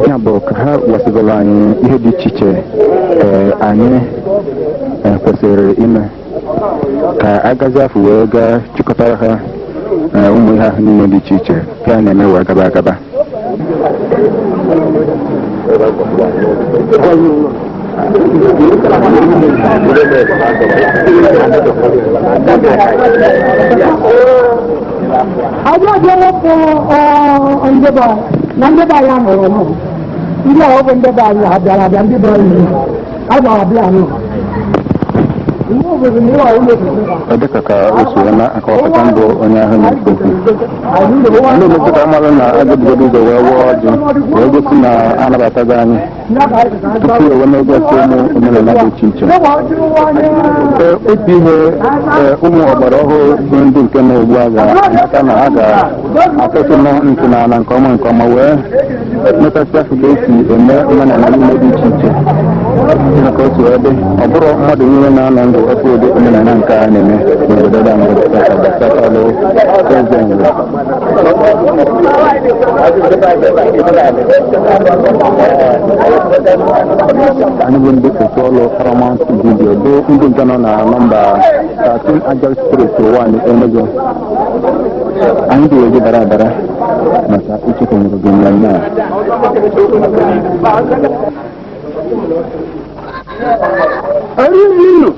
ya bụ ka ha gwasịgoro anyị ihe dị iche iche ee, anyị eh, kwesịrị ime ka agazi afọ wee gaa chịkọtara ha ee, ụmụ ihe ahụ niile dị iche iche ka a na-eme wee gaba agaba Ọjọ́ jẹ́ wọ́pọ̀ ọ ndị ọbịa na ndị ọbịa ya mụrụ mụ. Ndị a ọ bụ ndị ọbịa ya bịara abịa ndị bara uru. ọ dịka ka o si wee na-akọwapụta bụ onye ahụ na-ekwu okwu ndị obodo ka mmadụ na a ga-ebugodo ụzọ wee waa ọjị wee gosi na anabatago anyị tupu e wee na-egosi ụmụ omenala dị iche iche Ee, otu ihe ee, ụmụ ọgbara ọhụrụ bụ ndị nke na ugbu a ga-amata na ha ga-atọsị ntị n'ala nke ọma nke ọma wee mụtasịa ka esi eme omenala niile dị iche iche maka otu ebe ọ bụrọ mmadụ niile na-anọ ndụ ahụ ụdị omenala nke a na-eme n'obodo anyị gbasalụ eze Nri anyị bụ ndị otu ọlụ Paramount Video bụ ndị nke nọ na nọmba 13 Ajali Street Uwani Enugu anyị dị eji dara adara maka ichekwanyere gị mmemme a Arịrịnụ.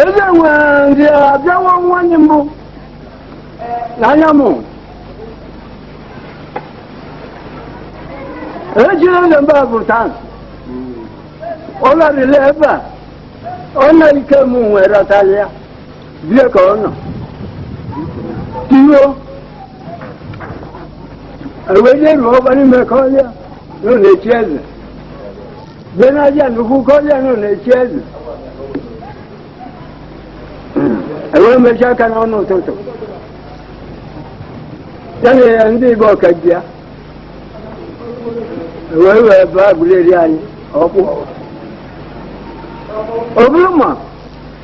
Eze nwere ndị abịawa nwanyị mbụ n'anya m. Ejire na mba bụ taa. Ọ larịla ebe a. Ọ na ike m nwere ọtalịa. bie ka ọ nọ tiyo ewee nye ruo ọgba n'ime ka ọlịa nọ na-echi eze bie n'aja nnukwu ka ọlịa nọ na-echi eze ewee mechi aka n'ọnụ ụtụtụ ya na ya ndị igbo ọka ji ya ewee wee baa Aguleri anyị ọkpụ ọ bụrụ ma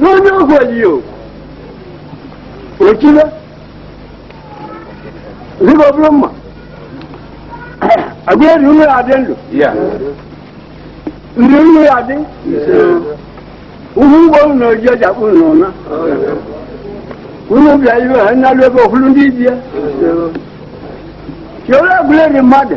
n'onye ọgwụ oliyo ojibe rigo bụrụ mma Aguleri unu ya-adị ndụ ndị unu ya-adị uhu ụgbọ na oji ọji akpụ na ọna unu bịa iwe ha nnalu ebe ofulu ndị ibie chere Aguleri mmadụ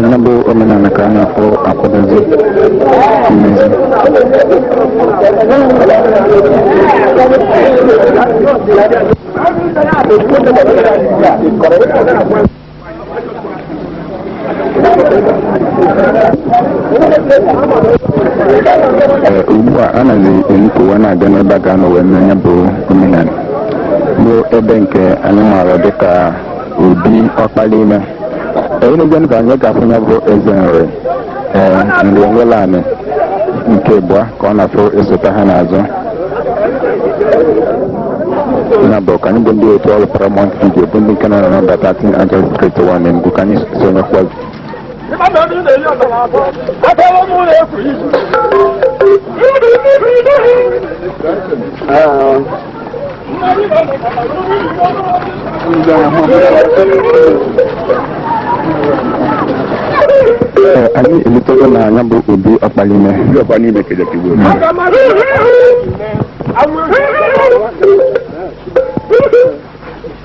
Na ya bụ omenala ka a na-akpọ akwadozi mmezi. Ee, ugbu a a nazi enupụwa na-aga n'ebe a ga-anọ wee mee ya bụ omenala bụ ebe nke anyị maara dịka obi ọkpala ime onye na-ejenụ ka anyị ga-afụ ya bụ Eze Nri ee Ènweleána nke abụọ ka ọ na-afụ esote ha n'azụ na bụ ka anyị bụ ndị otu ọrụ Paramount Video bụ ndị nke nọ na nọmba 13 Angeles Street 1 Enugu ka anyị sonyekwa Ah. Ee, anyị elutago na ya bụ obi ọkpala ime Ndị ọkwa n'ime kede ka igwe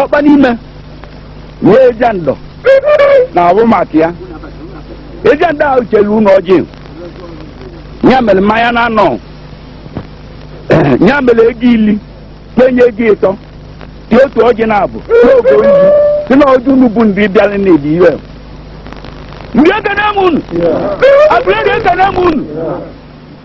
ọkpala ime wee eja ndọ na abụ maka ya eja ndọ ahụ chere unu ọjị ya mere mmanya na anọ ya mere ego ili kpenye ego ịtọ dị otu ọjị naabọ n'oge oyi si na ọjị unu bụ ndị bịara na-ebi iwe Nri ekene m unu Aguleri ekene m unu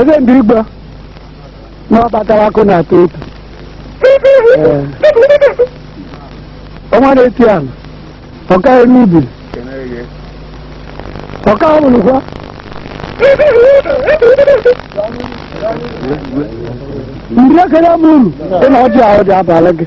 eze ndị Igbo na ọ batara akụ na atọ otu Ee. ọnwa na-eti ala ọka n'ubi ọka ọbụlụkwa ndị ekele m unu dị na ọjị ahụ dị abalị gị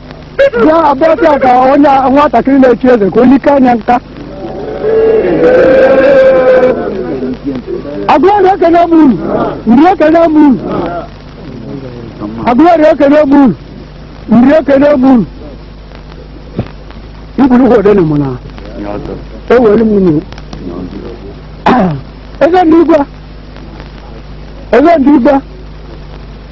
bịa abịa ka onye nwatakịrị na-echi eze ka onye ike anya nka Aguleri ekene m unu Nri ekene m unu Aguleri ekene m unu Nri ekene m unu Igbo Ukwu ekene m unu ekene m unu eze ndị igwe eze ndị igwe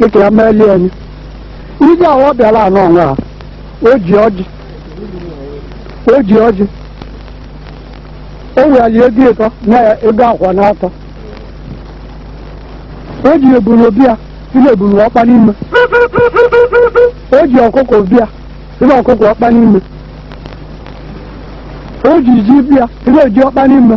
dịka ya melie anyị ije ahụ ọ bịara anọ ọnwa a o ji ọjị o ji ọjị o weli ego ịtọ na ego akwa na atọ o ji ebunu bịa ile ebunu ọkpa n'ime o ji ọkụkọ bịa ile ọkụkọ ọkpa n'ime o ji ji bịa ile ji ọkpa n'ime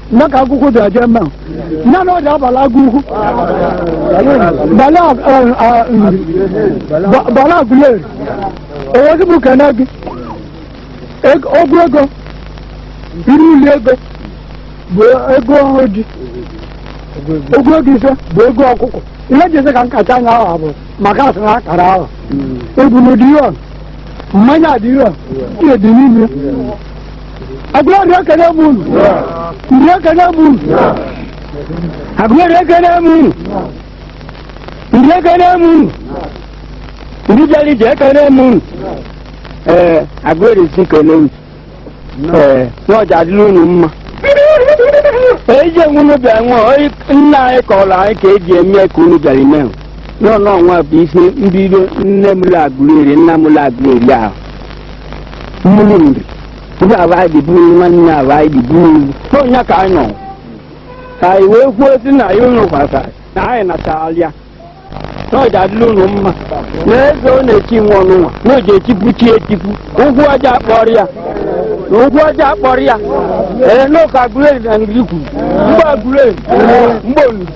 na ka Agụukwu dị aja mma na na ọ dị abala Agụukwu bala Aguleri o wezi bụ kene gị ogwu ego iri uli ego bụ ego ọjị ogwu ego ise bụ ego ọkụkọ ihe ji ese ka nkacha anya ahụ bụ maka asị na akara ahụ ebunu dị ihe mmanya dị ihe dị n'ime Aguleri ekene m unu Nri ekene m unu Aguleri ekene m unu Nri ekene m unu Nri bịara ije ekene m unu ee Aguleri sị kene unu ee na ọ ja-adịla unu mma ije nwa unu bịa nwa nna anyị kọrọ anyị ka eji eme ka unu bịara ime na ọnụnwa bụ isi mbido nne mụlụ Aguleri nna mụlụ Aguleri ahụ mụlụ Nri ihe aba anyị ji bụrụ nwanne aba anyị ji bụrụ n'onye ka anyị nọ ka anyị wee kwuo sị na ya unu kwasara na anyị nacharalịa na ọ ja-adịla unu mma na eze ọ na-echi nwa ọnụnwa na o ji echipụ chi echipụ ụkwụ ọ ja-akpọrọ ya na ụkwụ ọ ja-akpọrọ ya ee n'ụka Aguleri na Nri kwuru mgbe Aguleri mgbe Enugwu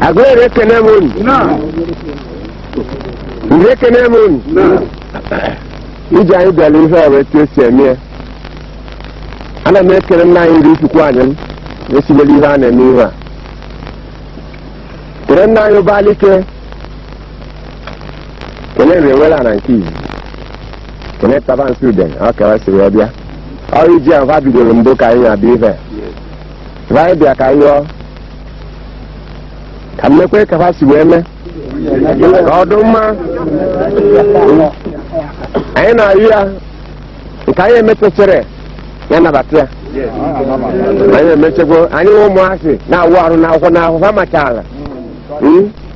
Aguleri ekene m unu. Nri ekene m unu. Ije anyị bịara ihe ọ bụ etu esi eme ya. Ana m ekene nna anyị Nri Ifikuanim esibeli ihe a na-eme ihe a. Kene nna anyị Obalike. Kene Nri Enweleana nke izi. Kene Tabansi Udene, ọ ka ha siri ya bịa. Ọ bụ ije ahụ ha bidoro mbụ ka anyị abịa ihe. Anyị bịa ka anyị yọọ ka m mekwee ka ha si wee mee ka ọ dị mma anyị na-ayụ ya nke anyị emechechere ya nabata ya anyị emechekwa anyị nwe ụmụazị na-awụ arụ n'akwụkwọ n'ahụ ha machaala Mm?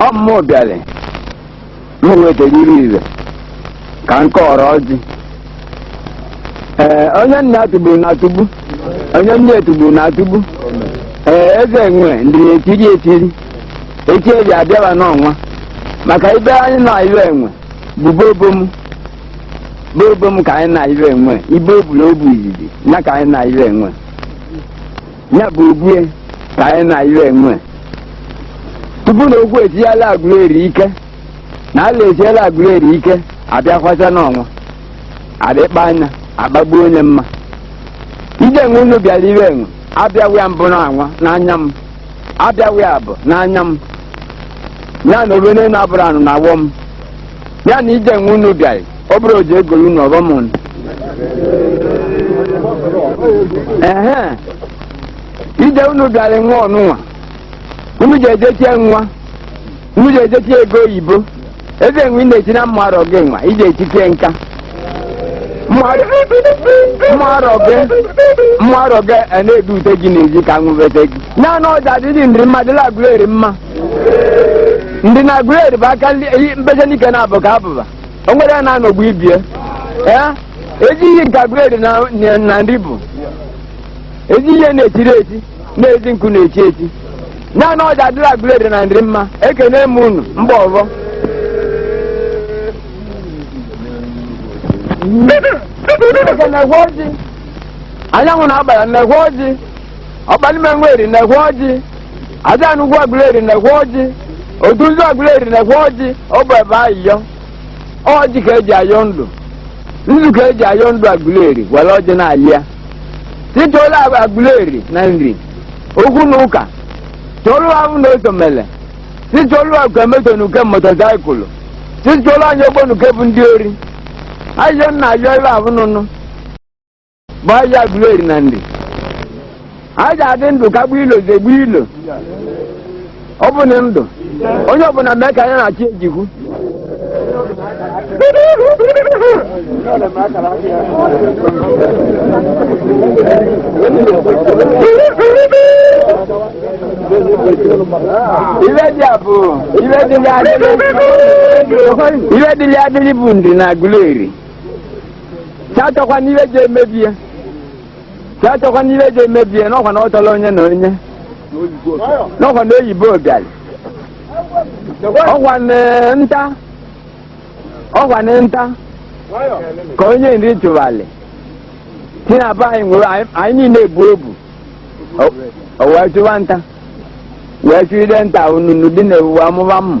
ọ mụ bịara m wetara iri ire ka m kọrọ ọjị ee onye nna atụgburu na atụgbu onye nne etụgburu na atụgbu ee eze nwe ndị na-etiri etiri echi eji abịaba n'ọnwa maka ibe anyị na iwe enwe bụ bobom bobom ka anyị na iwe enwe ibe ọbụla ọ bụ izizi ya ka anyị na iwe enwe ya bụ ogwue ka anyị na ife enwe tupu na okwu etinyela Aguleri ike na ala etinyela Aguleri ike abịakwasa n'ọnwa adịkpa anya agbagbuo onye mma ije enwe unu bịara ife enwe abịaghị ya mbụ n'anwa n'anya m abịaghị ya bụ n'anya m ya na obere na-abụrụ anụ na awọ m ya na ije enwe unu bịara ọ bụrụ ọjị egolu unu ọbamọn ehe ije unu bịara nwa ọnụnwa unu ji ejechie nwa unu ji ejechie ego oyibo eze enwe ị na-eti na mma arọ gị nwa ije etitie nka mma arọ gị mma arọ gị a na-edu ute gị n'ezi ka nwụbete gị naanị ọ ja-adịrị Nri mma dịla Aguleri mma Nri na Aguleri bụ aka mbeze n'ike na-abụ ka abụba o nwere ya na-anọgbu ibie ee ezi ihe nke Aguleri na Nri bụ ezi ihe na-echiri echi na ezi nkụ na-echi echi naanị ọ ja-adịla Aguleri na Nri mma ekene m unu mba ọzọ Chineke nekwe ọjị anyanwụ na agbala nekwe ọjị Ọkpanime nwe Eri nekwe ọjị Ajana ukwu Aguleri nekwe ọjị otu nzu Aguleri nekwe ọjị ọ bụ ebe ayịyọ ọjị ka eji ayọ ndụ nzu ka eji ayọ ndụ Aguleri were ọjị na-ayọ sị chụlụ Aguleri na Nri okwu na ụka chụlụ ahụ na osomele sị chụlụ uke moto n'uke motosaịkụlụ sị chụlụ anyị ogbo n'uke bụ ndị ori ayịyọ nna ayọ ife ahụ nụnụ bụ ọja Aguleri na Nri a ja-adị ndụ kagbuo ilo zegbuo ilo ọ bụ na ndụ onye ọbụla mee ka ya na-achị ejikwu ife dịlị adịlị bụ Nri na Aguleri si achọkwa n'ihe ji emebie si achọkwa n'ihe ji emebie n'ọkwa na ọ chọrọ onye na onye n'ọkwa na oyibo bịara ọkwa na nta ka onye Nri chụwalị si na be anyị nwere anyị- anyị niile ebu obu o wee chụwa nta wee chụide nta onunu dị na ewuwe amụba mmụ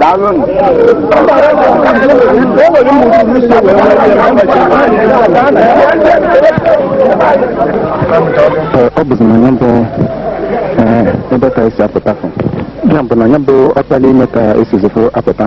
daalụnụ ọ bụzi na ya bụ ebe ka esi apụta ya bụ na ya bụ Ọkpanime ka esizi fụ apụta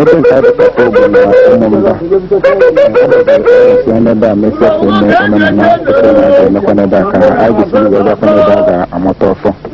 ebe nke anyị pụtara bụ na ụmụmba si n'ebe a mesịa ka eme omenala pụtara na-emekwa n'ebe a ka anyị gosiri wee gakwa n'ebe a ga-amụta ọfọ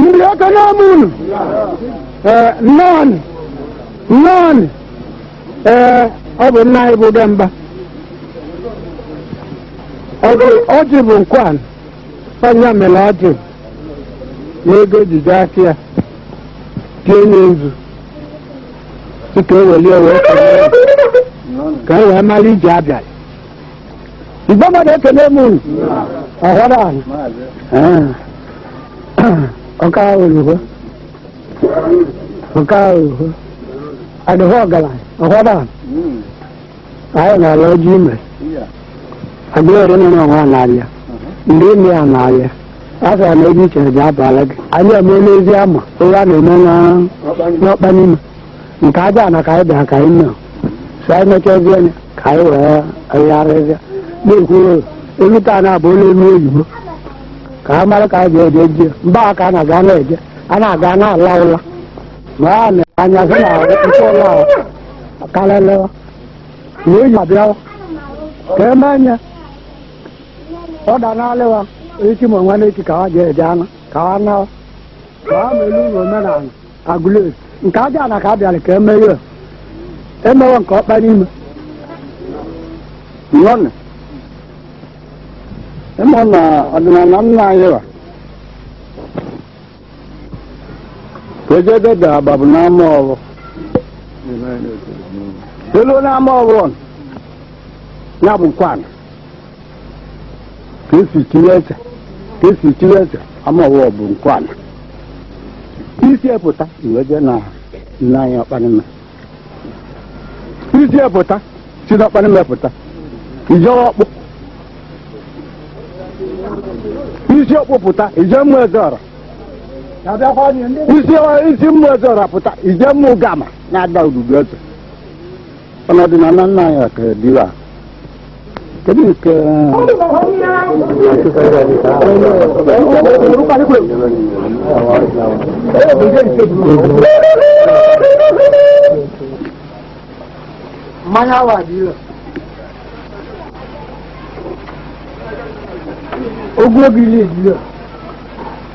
ndị ekene m unu nnọọnụ nnọọnụ ee ọ bụ nna anyị bụ demba ọjị bụ nkwana onye mere ọjị n'ego ejije aka ya tie nzu si ka o welie wee kelee m, ka e wee mara ije abịa igbe mmadụ ekele m unu ọhụrụ ahụ ọka oluho ọka oluho adịghị ọgaranya ọhụrụ ahụ anyị na-ala ọjị ime Aguleri nọ n'ọnwa na-abịa ndị ime ya na-abịa a sara na ebe ichere ji abala gị anyị eme n'ezi ama onye a na-eme na- n'Ọkpanime nke Ajana ka anyị bịara ka anyị nọ so anyị mechazie ya ka anyị wee agharịzịa na-ekwuru elu taa na abụ ụlọ elu oyibo ka a mara ka anyị ga-eje ji mba ka a na-aga na-eje a na-aga na-ala ụla ma a na-anya sị na nke ụlọ ahụ kalele wee yi abịawa ka eme anya ọ da n'alịwa echi ma nwa n'echi ka ha ji eje anụ ka ha nawa ka ha melu ụlọ omenala Aguleri nke Ajana ka a bịara ka eme ya emewe nke Ọkpanime Nnọọnụ, ịma na ọdịnala nna anyị wa Wejede da ababu n'ama ọrụ. Elu n'ama ọrụ ọnụ. Ya bụ nkwana. Ka esi chiri eze. Ka esi chiri eze. Ama ọrụ bụ nkwana. I si ya pụta i wee je na nna anyị Ọkpanime. i si ya pụta si n'Ọkpanime pụta i je Ọkpụ i si Ọkpụ pụta i je Ụmụezeọra i si Ụmụezeọra pụta i je Ụmụgama na-ada ududu eze na ọdịnana nna anyị ka dịwa mmanya wa dị ire ogologo ile dị ire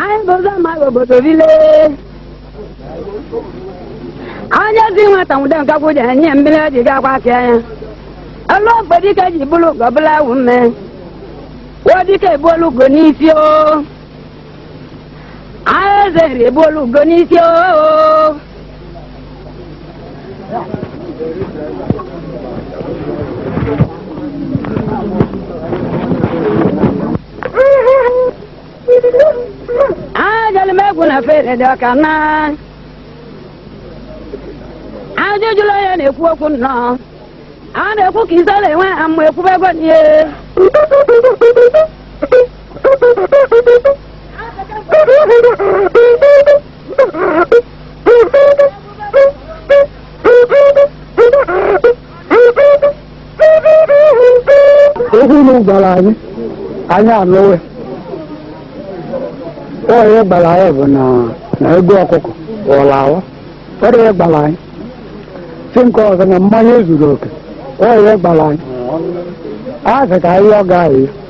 anyị bụ ụzọ ma obodo bile onye zi nwata nwụde nkakwu je enye ya mmiri o ji ga-akwọ aka ya elu ogbe dike ji buru ugo bụla ewu mme wo dike ebuolu ugo n'isi o anyị eze nri ebuolu ugo n'isi o ajụrụ m egwu na fere dị ọka na ajụjụla onye na-ekwu okwu nnọọ a na-ekwu ka isola enwe ha mma ekwubego n'ihe okwu unu gwara anyị anyị anụwe onye gbara anyị bụ na ego ọkụkọ ụlọ awa onye gbara anyị si nke ọzọ na mmanya ezuru oke onye gbara anyị a sị ka anyị ọ gaghị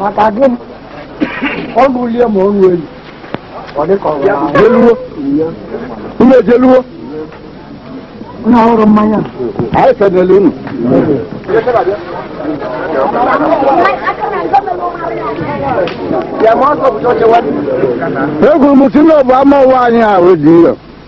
maka gị ọ gụlie ma ọnụ elu ọ dị ka ọrụ ahụ jeluwo unu ejeluwo na ọrụ mmanya anyị fedele unu egwuru m si na ọ bụ ama ụwa anyị ahụ dị iro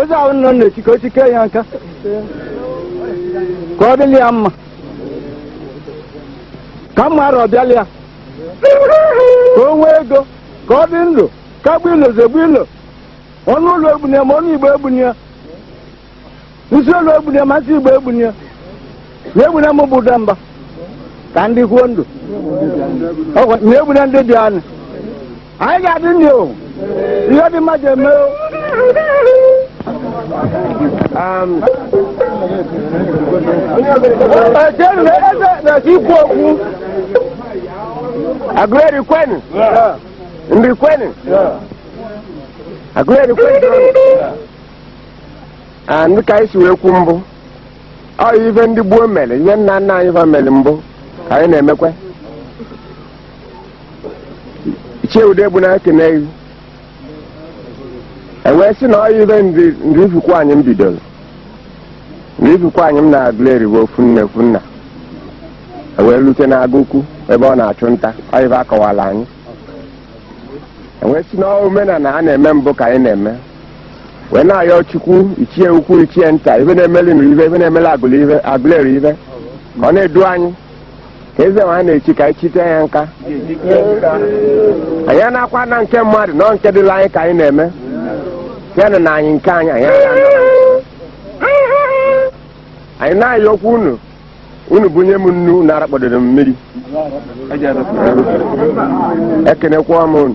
eze ahụ nọ na-echi ka o chikee ya nka ka ọ dịlị ya mma ka mma arọ bịalị ya ka o nwee ego ka ọ dị ndụ kagbuo ilo zegbuo ilo ọnụ olu egbune ya ma ọnụ igbo egbune ya nsị olu egbune ya ma nsị igbo egbune ya ma egbunye m bụ ụda mba ka m dịkwuo ndụ ma egbunye ndị bịanụ anyị ga-adị ndụ o ihe dị mma je eme o ejenu na eze na-esi ikwu okwu aguleri kwenu nri kwenu aguleri kwenu a dị ka anyị si wee kwu mbụ ọ ife ndị gboo mere ihe nna nna anyị fa mere mbụ ka anyị na-emekwa ichie ude bụ na ekene gị ewee sị na ọ ife Nri Ifikwuanịm bidoro Nri Ifikwuanịm na Aguleri bụ ofu nne ofu nna ewee lute n'Agụ Ukwu ebe ọ na-achụ nta ọ ife akọwalụ anyị ewee sị na ọ omenala a na-eme mbụ ka anyị na-eme wee na-ayọ Chukwu ichie ukwu ichie nta ife na-emeli Nri ife ife na-emeli Aguleri ife ka ọ na-edu anyị eze nwa na-echi ka anyị chite ya nka anyị anakwa na nke mmadụ na nke dịlị anyị ka anyị na-eme ya na na anyị nke anyị anyị anaghị anọ na nke. anyị na-ayọkwu unu unu bunye m nnu unu arakpọdoro m mmiri ekenekwa m unu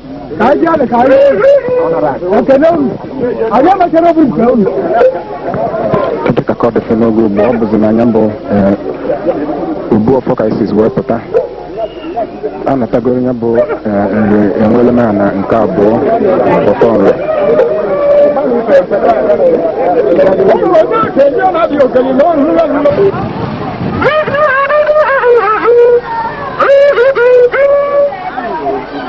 ka anyị bịa ka anyị ekele unu anyị emechara obi nke unu dịka ka ọ dịfe n'oge ugbu a bụzi na ya bụ obu ọfọ ka anyị sizi wee pụta a natagoro ya bụ Nri Enweleana nke abụọ ọfọ Nri Thank you.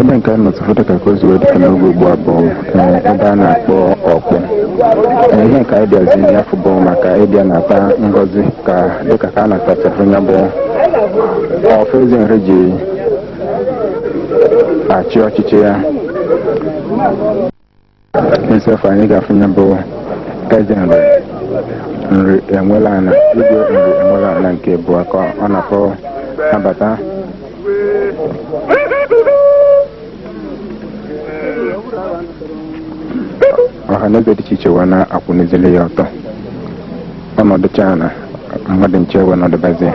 ebe nke a nọdụfụ dịka ka o si wee dịka n'oge ugbu a bụ ee, ebe a na-akpọ Ọkpụ Ee, ihe nke anyị bịazi ya afụ bụ maka ịbịa nata ngọzi ka dịka ka a natachafụ ya bụ ọfọ Eze Nri ji achị ọchịchị ya nsọfụ anyị ga-afụ ya bụ Eze Nri Nri Enweleana Igwe Nri Enweleana nke abụọ ka ọ na-akpọ abata ọha na eze dị iche iche wee na-akwụnizili ya ọtọ ọ nọdụchaa ana mmadụ ncha ewee nọdụbazi ya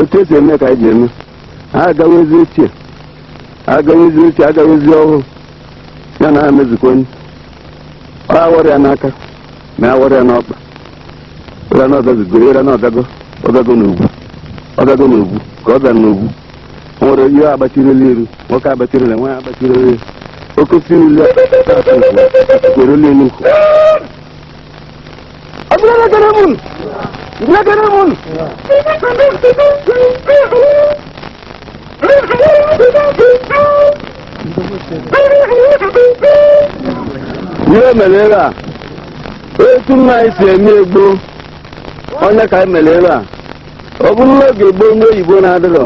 otu e si eme ka anyị ji eme agawezi ochie agawezi ochie agawezi ọhụrụ ya na ha mezukwa onye ọ awọrọ ya n'aka ma awọrọ ya n'ọkpa ịra na ọgazigo ịra na ọgago ọgago na ugwu ọgago na ugwu ka ọ gara na ugwu o nwere ihe agbachirila iru nwoke agbachirila nwaanyị agbachirila iru oke osiri ile akụkụ elu nkụ Abdullah Karamun. Abdullah Karamun. Ihe mere ebe a, otu nna anyị si eme gboo, ọ ya ka anyị mere ebe a. Ọ bụrụ n'oge gboo ndị oyibo na-adịrọ,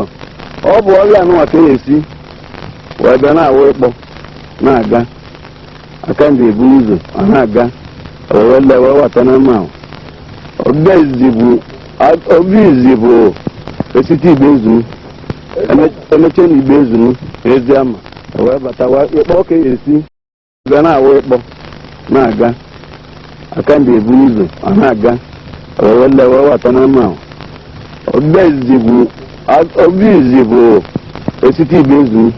ọ bụ ọhịa anụnwa ka e si, wee bịa na-awụ ikpo, na-aga. aka ndị ebu ụzọ ọ na-aga wee lewe wata na mma oge izizi bụ oge izizi bụ esite Igboezunu emeche na Igboezunu Eziama wee bata wa ịkpọ ka esi ga na-awụ ịkpọ na-aga aka ndị ebu ụzọ ọ na-aga wee lewe wata na mma oge izizi bụ oge izizi bụ esite Igboezunu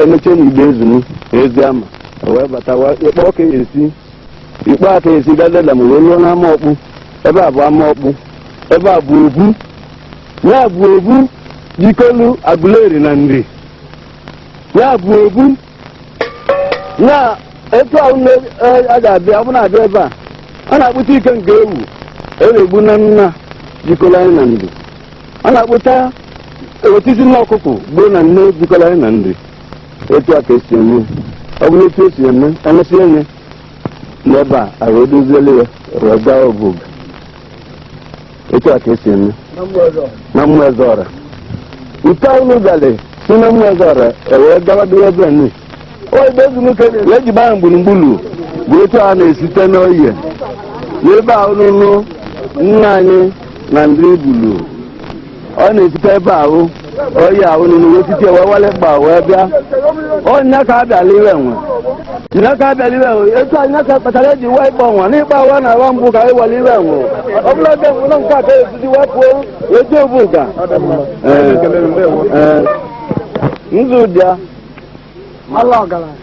emeche na Igboezunu Eziama wee bata ikpe ọka esi ikpe aka esi gadela ma wee ruo n'ama Okpu ebe a bụ ama Okpu ebe a bụ obu ya bụ obu jikolu Aguleri na Nri ya bụ obu na etu ahụ na a ga-abịa ọ bụ na-abịa ebe a ọ na-akpụta ike nke ewu na-egbu na nna jikọrọ anyị na Nri ọ na-akpụta otiti nne ọkụkọ gbuo na nne jikọrọ anyị na Nri etu a ka esi eme ọ bụrụ etu esi eme emesịa ya n'ebe a e wee doziele ya wee gaa Obuga etu a ka esi eme na Ụmụezeọra nke anyị n'ụgalị si na Ụmụezeọra ewee gawa dịwa ebe Nri Igboezunu e wee jiba ya gburugburu bụ etu a na-esite n'oye n'ebe ahụ n'ụlọ nna anyị na Nri bulu ọ na-esite ebe ahụ oyi a unu wee site wee wale ịkpa wee bịa onye ka abịala iwe nwe nne ka abịala iwe nwe etu anyị ka kpatara eji wee ịkpọ nwa n'ịkpa awa na awa mbụ ka anyị wale iwe nwe ọ bụla oge mbụ na nke a ka esizi wee pụọ wee jee Obuga Ee, ee. nzu bịa ala ọgaranya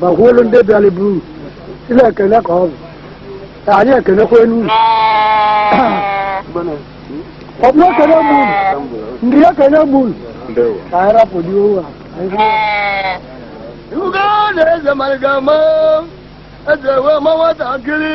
ma kwuolu ndị bịara buru ile ekele ka ọ bụ ka anyị ekelekwa enu unu ọ bụ ekele m unu ndị ekele m unu ka anyị rapụ dị ohu a anyị kwuo. Ugo na-eze maliga ma eze wee ma nwatakịrị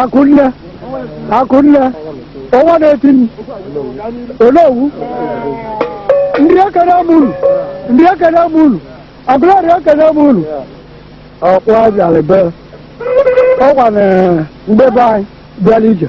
akụnne akụnne ọnwa na-eti m Onowu ndị ekene m unu ndị ekene m unu Aguleri ekene m unu ọkwa bịara be ọkwa na mgbebe anyị bịara ije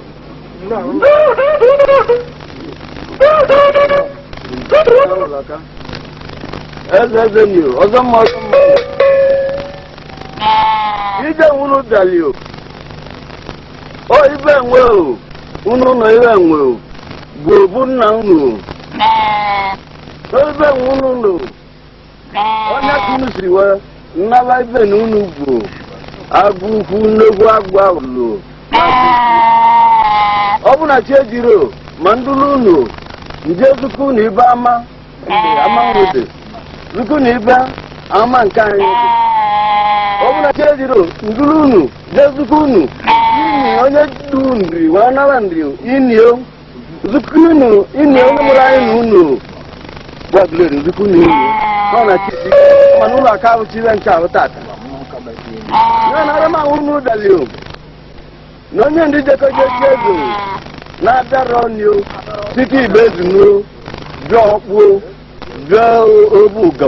eze eze Nri ọzọ mma ọzọ mma ibe enwe unu daalụ o o ibe enwe o unu nnọọ ibe enwe o bụ obu nna unu o o ibe enwe unu nnọọ o onye ka unu siri wee nnaba ibe na unu bụ agụ ukwu Enugwu agụ awụlo ọ bụ na chi ejiro ma ndụlụ unu nje zuku na ibe ama ama nwede zuku na ibe ama nke anyị ọ bụ na chi ejiro ndụlụ unu je zuku unu ini onye du nri wee nara nri ini o nzukọ unu ini onye mụrụ anyị na Enugwu Aguleri nzukọ unu ini ọ na chi mana ụlọ aka ahụ chi nche ahụ tata ya na ara m ahụ unu dali o na onye ndị jekọ jechi eze na-abịara ọnụ site ibe ezunuo bịa Okpu o bịa Obuga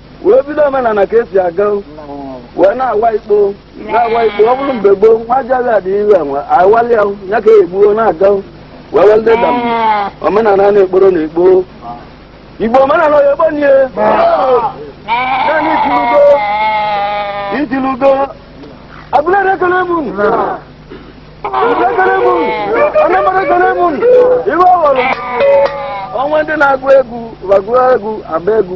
wee bido omenala ka esi aga wee na-awa ikpo na-awa ikpo ọ bụrụ mgbe gboo nwa ajaghị adị ihu enwe awali ya ya ka egbuo na-aga wee wee ndị dam omenala na-ekporo na ekpo igbo omenala onye gbo nie naanị itilugo itilugo Aguleri ekele m unu abụla ekele m unu Anambra ekele m unu iwe ọghọrọ ọ nwee ndị na-agụ egwu ba agụọ egwu agba egwu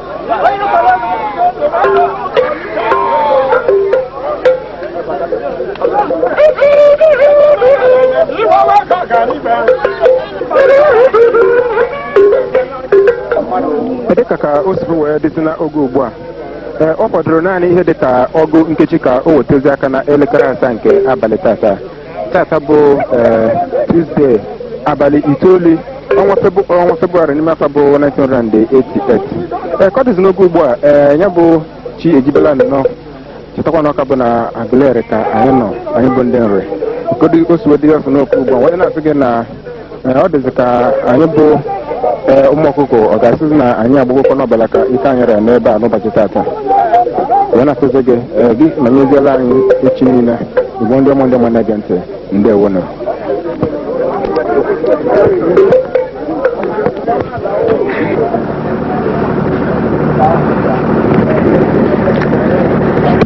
dịka ka o si wee dịzi n'oge ugbu a ee ọ fọdụrụ naanị ihe dịka ọgụ nkeji ka o wetezi aka na elekere asaa nke abalị tata tata bụ Tuesday abalị itoolu ọnwa Febụ- ọnwa Febụwarị n'ime afọ bụ 1988 ee ka ọ dịzi n'oge ugbu a ee ya bụ chi ejibela nnọọ chetakwa na ọ ka bụ na Aguleri ka anyị nọ anyị bụ ndị na-record o si wee dịzi n'oge ugbu a wee na-asị gị na Ee, ọ dịzị ka anyị bụ ee, ụmụ ọkụkọ ọ ga-asịzi na anyị agbagokwa n'ọbala ka ike anyị ra n'ebe a n'ụbọchị tata wee na-asịzi gị ee, gị ma nyeziela anyị echi niile igbo ndị ọma ndị ọma na-ege ntị ndewo nụ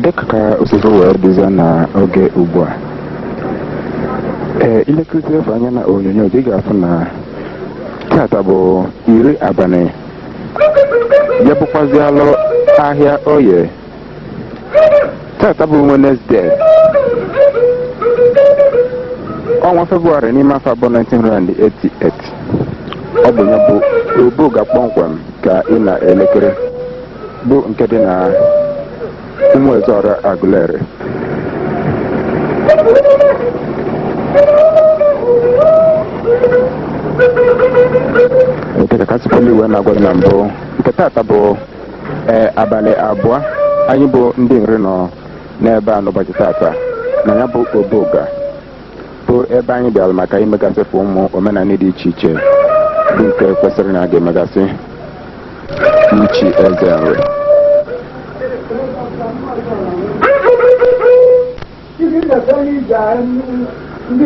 dịka ka o si wee dịzie n'oge ugbu a ee i lekọta efu anya na onyonyo gị ga-afụ na tata bụ iri abalị ya bụkwazi alụ ahịa oye tata bụ Wednesday ọnwa febụwarị n'ime afọ bụ 1988 ọ bụ ya bụ Obuga kpọmkwem ka ị na-elekiri bụ nke dị na ụmụ Ezeọra Aguleri dịka ka si pụlụ wee na-agwa gị na mbụ nke taata bụ ee abalị abụọ anyị bụ ndị nri nọ n'ebe a n'ụbọchị taata na ya bụ Obuga bụ ebe anyị bịara maka imegasịfụ ụmụ omenala dị iche iche bụ nke kwesịrị na a ga-emegasị ichi eze nri ndị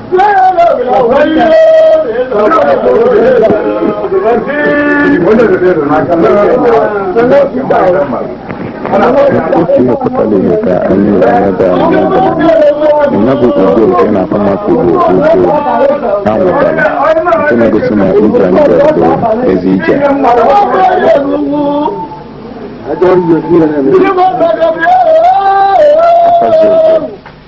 otu ihe pụtara ihe ka anyị na-emebe ya bụ ugo nke na-akpọ mmadụ bụ ugo ha nwetara nke na-egosi na ije anyị bịara bụ ezi ije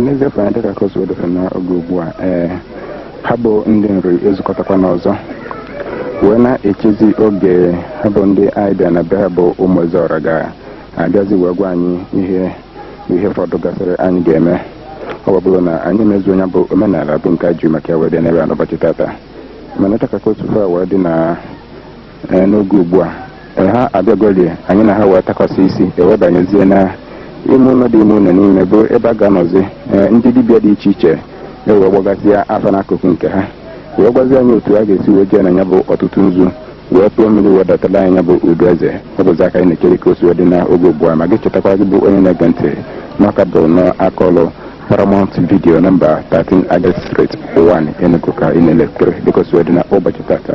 n'eziokwu na dịka ka o si wee dị n'oge ugbu a ee ha bụ ndị nri ezukọtakwa n'ọzọ wee na-echezi oge ha bụ ndị anyị bịa na be ha bụ ụmụ ezeọra ga abịazi wee gwa anyị ihe ihe fọdụ gasịrị anyị ga-eme ọ bụrụ na anyị emezuo ya bụ omenala bụ nke a ji maka ya wee bịa n'ebe a n'ụbọchị tata mana dịka ka o si fa wee dị na eh, n'oge ugbu a eh, ha abịagolie anyị na ha wee takọsị isi e wee banyezie na ime ụlọ dị ime ụlọ n'ime bụ ebe a ga-anọzi eh, ndị dibịa dị iche iche ewee gbagasịa afa n'akụkụ nke ha wee gwazie anyị otu a ga-esi wee jee na ya bụ ọtụtụ nzu wee tụọ mmiri wee datala anyị ya bụ udu eze ọ bụzi ya ka anyị na-ekiri ka o si wee dị n'oge ugbu a ma gị chetakwa gị bụ onye na-ege ntị na ọ ka bụ n'aka ọlụ paramount video nọmba 13 agas street 1 enugu ka ị na-elekiri dịka o si wee dị n'ụbọchị tata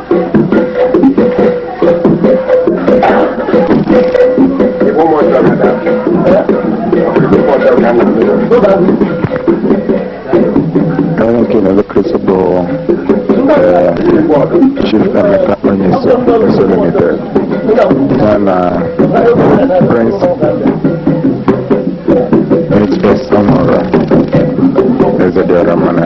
Onye nke na-elekiri bụ eh, Chief Emeka Onyeso Onyeso Limited ya na Prince HS Ọmụrụ Eze Dịọra Mma na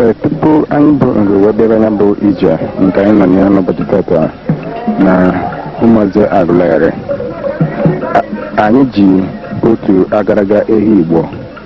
Ee, tupu anyị bụ nri wee bịara ya bụ ije nke anyị nọ na ya n'ụbọchị tata na Ụmụeze Aguleri A- anyị ji otu agaraga ehi Igbo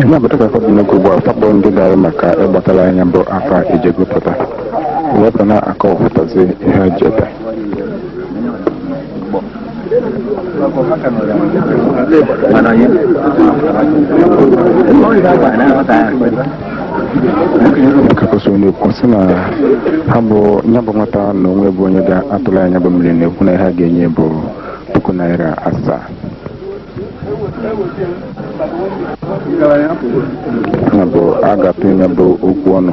ihe apụtara afọ dị n'oge ugbu a fa bụ ndị gara maka ịgbatara nya bụ afa ejego pụta wepụ na akọwapụtazi ihe eji ebe kakọsị onye okwu sị na ha bụ ya bụ nwata na o nwe bụ onye ga-atụrụ ha nya bụ mmiri na-ekwu na ihe ha ga-enye bụ puku naira asaa ya bụ a ga-atụ ya bụ okwu ọnụ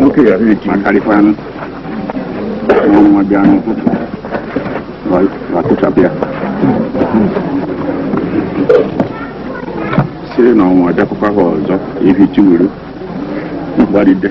nwoke ya rere ji akarịkwanụ nwa bịa n'ụtụtụ ma kụchapụ ya siri na ọ nwaa bịakwukwa ha ọzọ ihichi wuru mgbaride